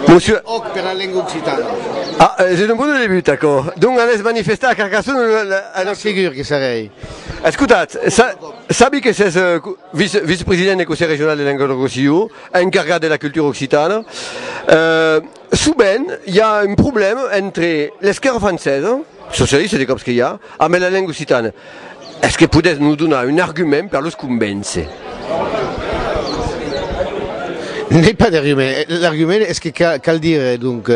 Monsieur. Òc pera lenga occitana. A, es un bon debut aquò. Donc anètz manifestar a Carcassona lo, la, a Noc. Segur que serèi. Escotatz, sa, sabi que s'es viç, vicepresident de Conselh Regional de Languedoc-Rossillon, encargat de la cultura occitana. E, sovent, i a un problèma entre l'esquèrra francesa, socialista de còps que i a, ambe la lenga occitana. Es que podètz nos donar un argument per los convéncer? N'ai pas d'argument. L'argument es que cal dire donc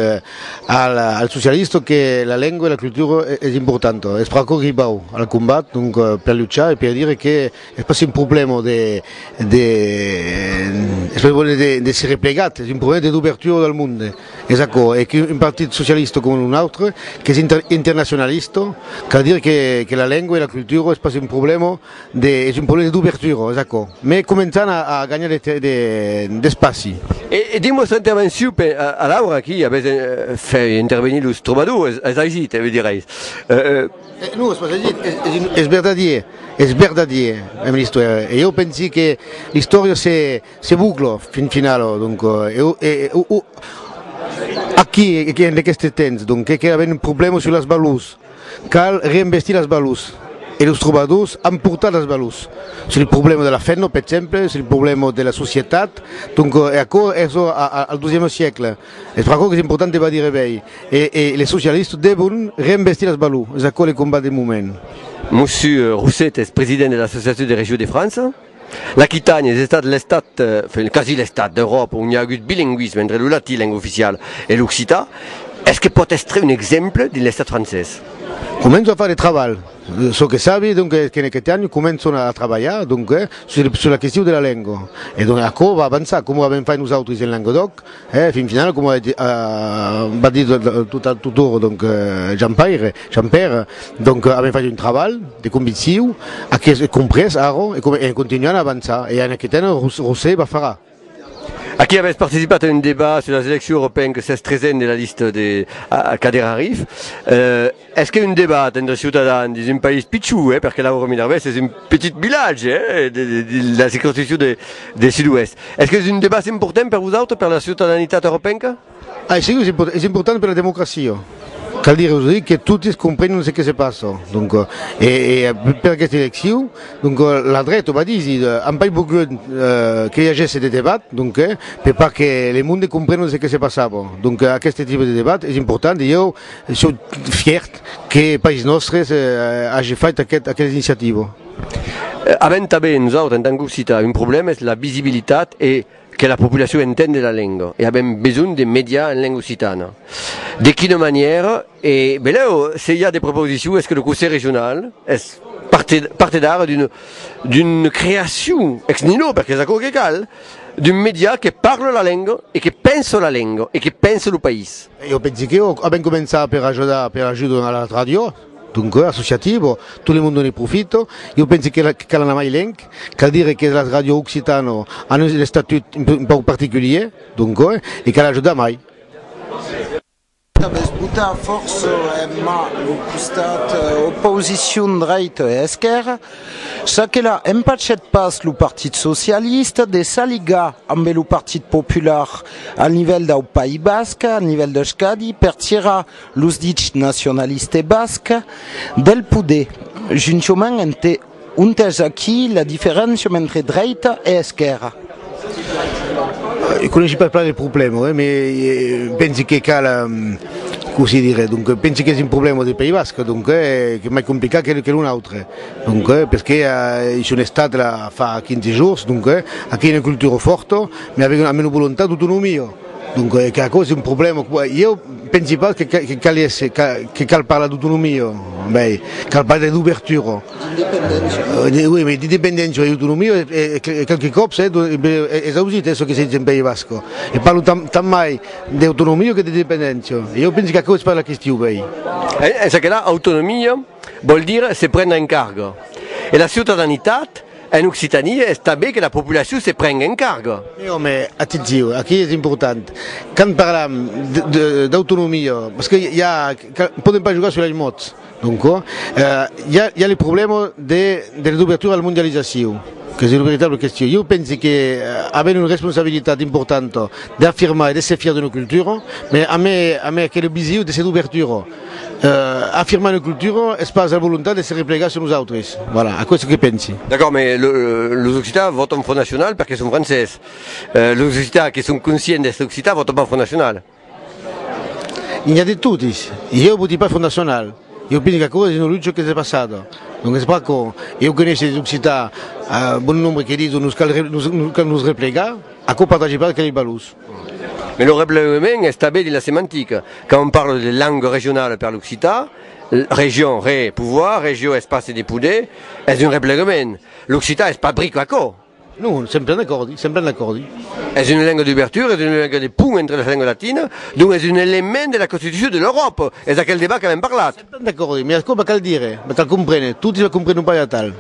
al socialista que la lengua e la cultura es importanta. Es pr'aquò que i vau al combat, donc per luchar e per dire que es pas un problèma de de de se replegat, es un problèma de d'obertura del monde. Es aquò, e que un partit socialista coma un autre, qu'es internacionalista, qu'a dire que la lengua e la cultura es pas un problèma de, es un problèma d'obertura, es aquò. Mai començan a ganhar d'espaci. E dins vòstra intervencion, per alaura aquí, avètz fait intervenir los trobadors, es aigit, me direis? Non, es pas aigit, es verdadièr, es verdadièr, Ministre, e jo pensi que l'istòria se. Se buclo, fin finalo, donc eu e o o aquí e en aqueste temps donc que qu'èra ben un problèma sus las balous, cal reinvestir las balous e los trobadors an portat las balous sus lo problèma de la fenna per exemple, sul problèma de la societat, donc e aquò es o a al dozièma siecle, es per aquò qu'es important de badir ebèi e e les socialistes devon reinvestir las balous, es aquò le combat deu moment. Mossu Rousset es president de l'Associacion des Régions de France. L'Aquitània es estat l'estat, enfin quasi l'estat, d'Euròpa ont i a agut bilingüisme entre lo latin, lenga oficiala, e l'occitan. Es que pòt èstre un exemple dins l'estat francés? Començo a far de trabalh, çò que sabi donque es qu'en Aquitània començon a trabalhar donque sus la question de la lenga e donque aquò va avançar coma avèm fait nosautris en Languedoc, E fin finala, coma va dire totoro donc Jampaire, Jampèra, donc avèm fach un trabalh de convicciu, ac es comprés arro e en continuant a avançar e en aqueth an Rosé va far a. Aquí avètz participat a un debat sus las eleccions europeenques s'es tresen de la lista de Kader Arif. Es que un debat entre ciutadans dins un país pichon, per que Lauro Minervés es un petit vilatge de la circonscripcion de Sud-Oest, es que es un debat important per vosautres, per la ciutadanitat europenca? Aicí es important per la democracia, cal dire ausi que totes comprenhon ce que se passa, donc e per aquesta eleccion donc la dreta va díser an pas volgut que i agèsse de debat donc per pas que le monde comprenhon ce que se passava, donc aqueste tipe de debat es important e ieu Sò fièrt que País Nòstre age fait aquesta iniciativa. Avèm tanben nosautres en tant qu'Occitans un problèma, es la visibilitat e que la populacion entende la lenga e avèm besonh de mediar en lenga occitana. De quina manièra? E benlèu se i a de proposicions es que lo Conselh Regional es partedari d'una creacion ex nihilo, perque es aquò que cal, d'un mediar que parle la lenga e que pense la lenga e que pense lo país. Jo pensi que jo avèm començar per ajudar per ajudo a la ràdio, donque associativo, tot le monde ne profito, jo pensi que cal anar mai lenc, cal dire que las ràdio occitano an un estatut un pauc particulier, donque e cal ajudar mai. Aves botat fòrça emma lo costat oposicion dreita e esquèrra. Ça que la empachèt pas lo Partit Socialista de s'aligar ambe lo Partit Popular al nivèl dau País Basc, al nivèl d'Euskadi, per tirar los dichs nacionalistes bascs del poder, juntament entè, ontès aquí la diferéncia entre dreita e esquèrra. E coneissi pas plan de problèma ue me pensi que cal cosi dire donque pensi qu'es un problèma de país basc donque que mai complicat que que non autre donque pesque a i son estat la fa 15 jours donque aquí una cultura fòrta me avèn una mena volontat d'autonomia donque que aquò es un problèma qu'a ieu pensi pas que que caliesse que cal parlar d'autonomia mai cal pas de d'ouvertura D'independéncia e d'autonomia e qualques còps es ausit çò que se ditz en país basc e parlo tant mai d'autonomia que d'independéncia e jo pensi qu'aquò es pas la question uèi. Es aquela autonomia vòl dire se prendre en carga e la ciutadanitat en Occitània es tanben que la populacion se prengue en carga. Òme, atencion, aquí es important quand parlam d'autonomia, parce que podèm pas jogar sus las mots. Donco, i a le problèma de la dobertura a la mondializacion, qu'es una veritabla question. Ieu pensi que avèm una responsabilitat importanta d'afirmar e d'èsser fièrs d'una cultura, mès amé amé aquela vision de se dobertura, afirmar una cultura es pas la volontat de se replegar sus nosautres. Voilà, aquò es çò que pensi. D'acòrd, mès los occitans vòtan Front Nacional perque son francés. Los occitans que son conscients d'èsser occitans vòtan pas Front Nacional. I n'ia de totis, ieu voti pas Front Nacional, ieu pensi qu'aquò es un olutge qu'es de passada, donc es pas com ieu que neissi des Occitans, a bon nombre que didon nos cal nos cal nos replegar, aquò partage pas aqueles balors. Mès lo replegament es tanben dins la semantica, quand on parle de langue regionale per l'occitan, region, re, pouvoir, regio, espaci de poder, es un replegament, l'occitan es pas bric d'aquò. Non, sempre en acòrdi, sempre en acòrdi. Es una lenga d'ubertura, es una lenga de pont entre las lengas latinas, donc es un element de la constitucion de l'Euròpa, es aquel debat qu'avèm parlat. Sempre en acòrdi, mai aquò me cal dire, me cal compréner, totis la comprenon pas atal.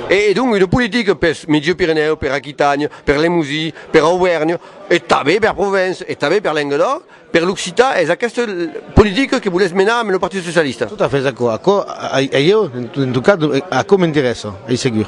E donc una politica pels Miègi-Pirenèus, per Aquitània, per Lemosi, per Auvèrnha, e tanben per Provença, e tanben per Lengadòc, per l'occitan, es aquesta politica que volètz menar amb lo Partit Socialista? Tot a fait, es aquò, aquò, a ieu, en tot cas, aquò m'interèssa, ei segur.